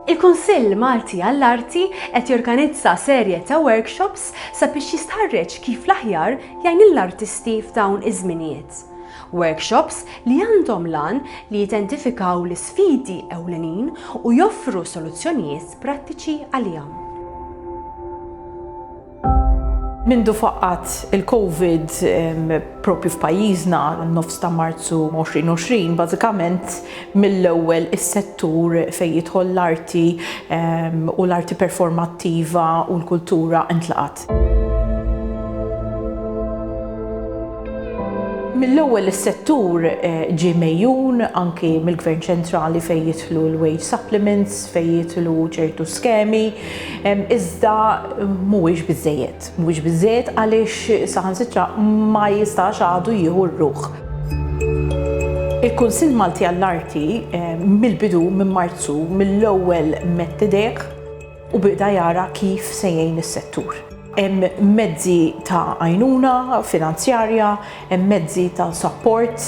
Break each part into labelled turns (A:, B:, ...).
A: Il-Kunsill Malti għall-Arti qed jorganizza serje ta' workshops sabiex jistħarreġ kif l-aħjar jgħin lill-artisti f'dawn iż-żminijiet. Workshops li għandhom l-għan li jidentifikaw l-isfidi ewlenin u joffru soluzzjonijiet prattiċi għalihom.
B: Mindu faqqat il-Covid propju f'pajjiżna nofs ta' Marzu 2020, bażikament mill-ewwel is-settur fejn jidħol l-arti u l-arti performattiva u l-kultura intlaqat. Mill-ewwel is-settur eh, ġie mejjun anki mill-Gvern Ċentrali fejn jidħlu l-wage supplements, fejn jidħlu ċertu skemi, Iżda mhuwiex biżżejjed. Mhuwiex biżżejjed għaliex saħansitra ma jistax għadu jieħu r-ruħ. Il-Kunsill Malti għall-Arti mill-bidu, minn Marzu, mill-ewwel medd idejh u beda jara kif se jgħin is-settur. Hemm mezzi ta' għajnuna finanzjarja, Hemm mezzi ta' sapport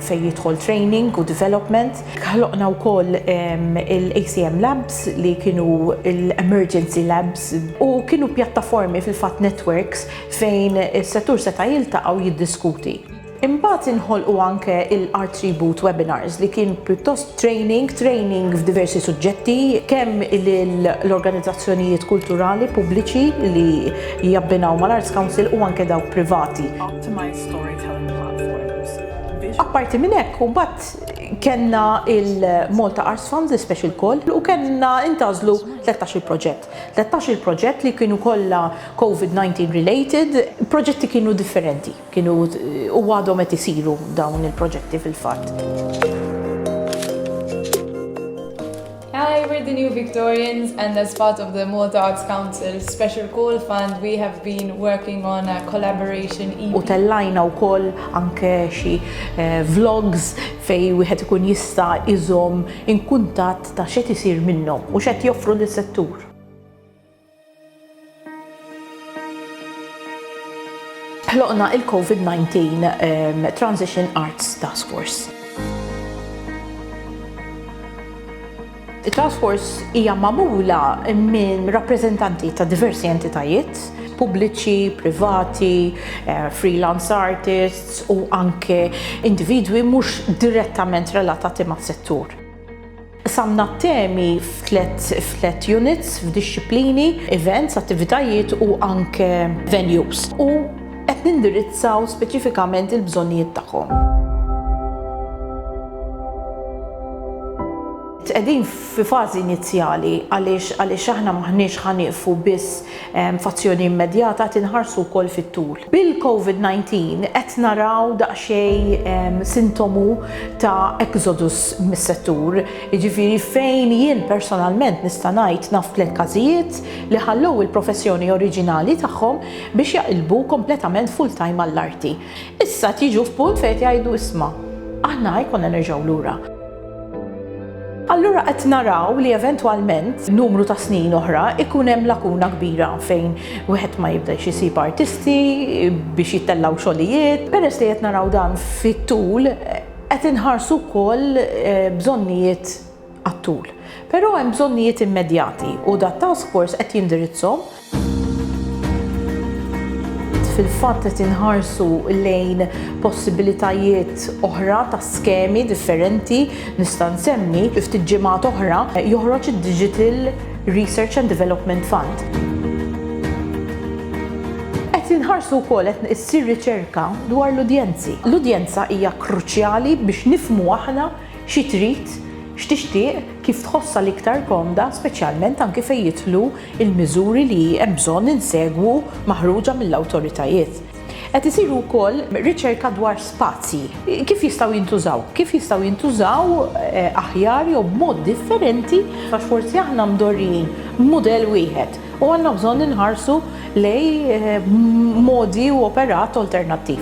B: fejn jidħol training u development. Ħloqna wkoll il-ACM Labs li kienu l-emergency labs u kienu pjattaformi fil-fatt networks fejn is-settur seta' jiltaqa' u jiddiskuti. Imbagħad inħolqu anke l-Artribut Webinars li kien pjuttost Training, training f'diversi suġġetti, kemm lill-organizzazzjonijiet kulturali pubbliċi li jabbinaw mal-Arts Council u anke dawk privati. Optimised storytelling platforms, visual. Apparti minn hekk, imbagħad kellna l-Malta Arts Fund, l-iSpecial Call, u kellna ntgħażlu tlettax-il proġett. Tlettax-il proġett li kienu kollha Covid-19 related, proġetti kienu differenti. Kienu u għadhom qed isiru dawn il-proġetti fil-fatt.
C: Hi, we're the New Victorians and as part of the Malta Arts Council Special Call Fund we have been working on a collaboration EP. U tellajna wkoll
B: anke xi vlogs fejn wieħed ikun jista' iżomm in kuntatt ta' x'qed isir minnhom u x'qed joffru lis-settur. Ħloqna il-COVID-19 Transition Arts Task Force. It-Task Force hija magħmula minn rappreżentanti ta' diversi entitajiet, pubbliċi, privati, eh, freelance artists u anke individwi mhux direttament relatati mas-settur. Qsamna t-temi f'tliet units, f'dixxiplini, events, attivitajiet u anke venues u qed nindirizzaw speċifikament il-bżonnijiet tagħhom. Qegħdin fi fażi inizjali għaliex aħna m'aħniex ħa nieqfu biss F'azzjoni immedjata qed inħarsu wkoll fit-tul. Bil-Covid 19 qed naraw daqsxejn sintomu ta' exodus mis-settur, jiġifieri fejn jien personalment nista' ngħid naf tliet każijiet li ħallew il-professjoni oriġinali tagħhom biex jaqilbu kompletament full-time għall-arti. Issa qed jiġu f'punt fejn qed jgħidu isma', aħna ikollna nerġgħu lura. Allura qed naraw li eventwalment numru ta' snin oħra ikun hemm lakuna kbira fejn wieħed ma jibdex isib artisti biex jittellgħu xogħlijiet. Peress li qed naraw dan fit-tul qed inħarsu wkoll eh, bżonnijiet għat-tul. Però hemm bżonnijiet immedjati u dat task force qed jindirizzhom fil-fatt qed inħarsu lejn possibilitajiet oħra ta' skemi differenti nista' nsemmi fi ftit ġimgħat oħra eh, joħroġ id-Digital Research and Development Fund. Qed inħarsu wkoll qed issir riċerka dwar l-udjenzi. L-udjenza hija kruċjali biex nifmu aħna Xi trid, x'tixtieq, kif tħossha l-iktar komda, speċjalment anki fejn jidħlu l-miżuri li hemm bżonn insegwu maħruġa mill-awtoritajiet. Qed isiru wkoll riċerka dwar spazji, kif jistgħu jintużaw, kif jistgħu jintużaw aħjar jew b'mod differenti għax forsi aħna mdorrijin b'mudell wieħed u għandna bżonn inħarsu lejn modi u operat alternattiv.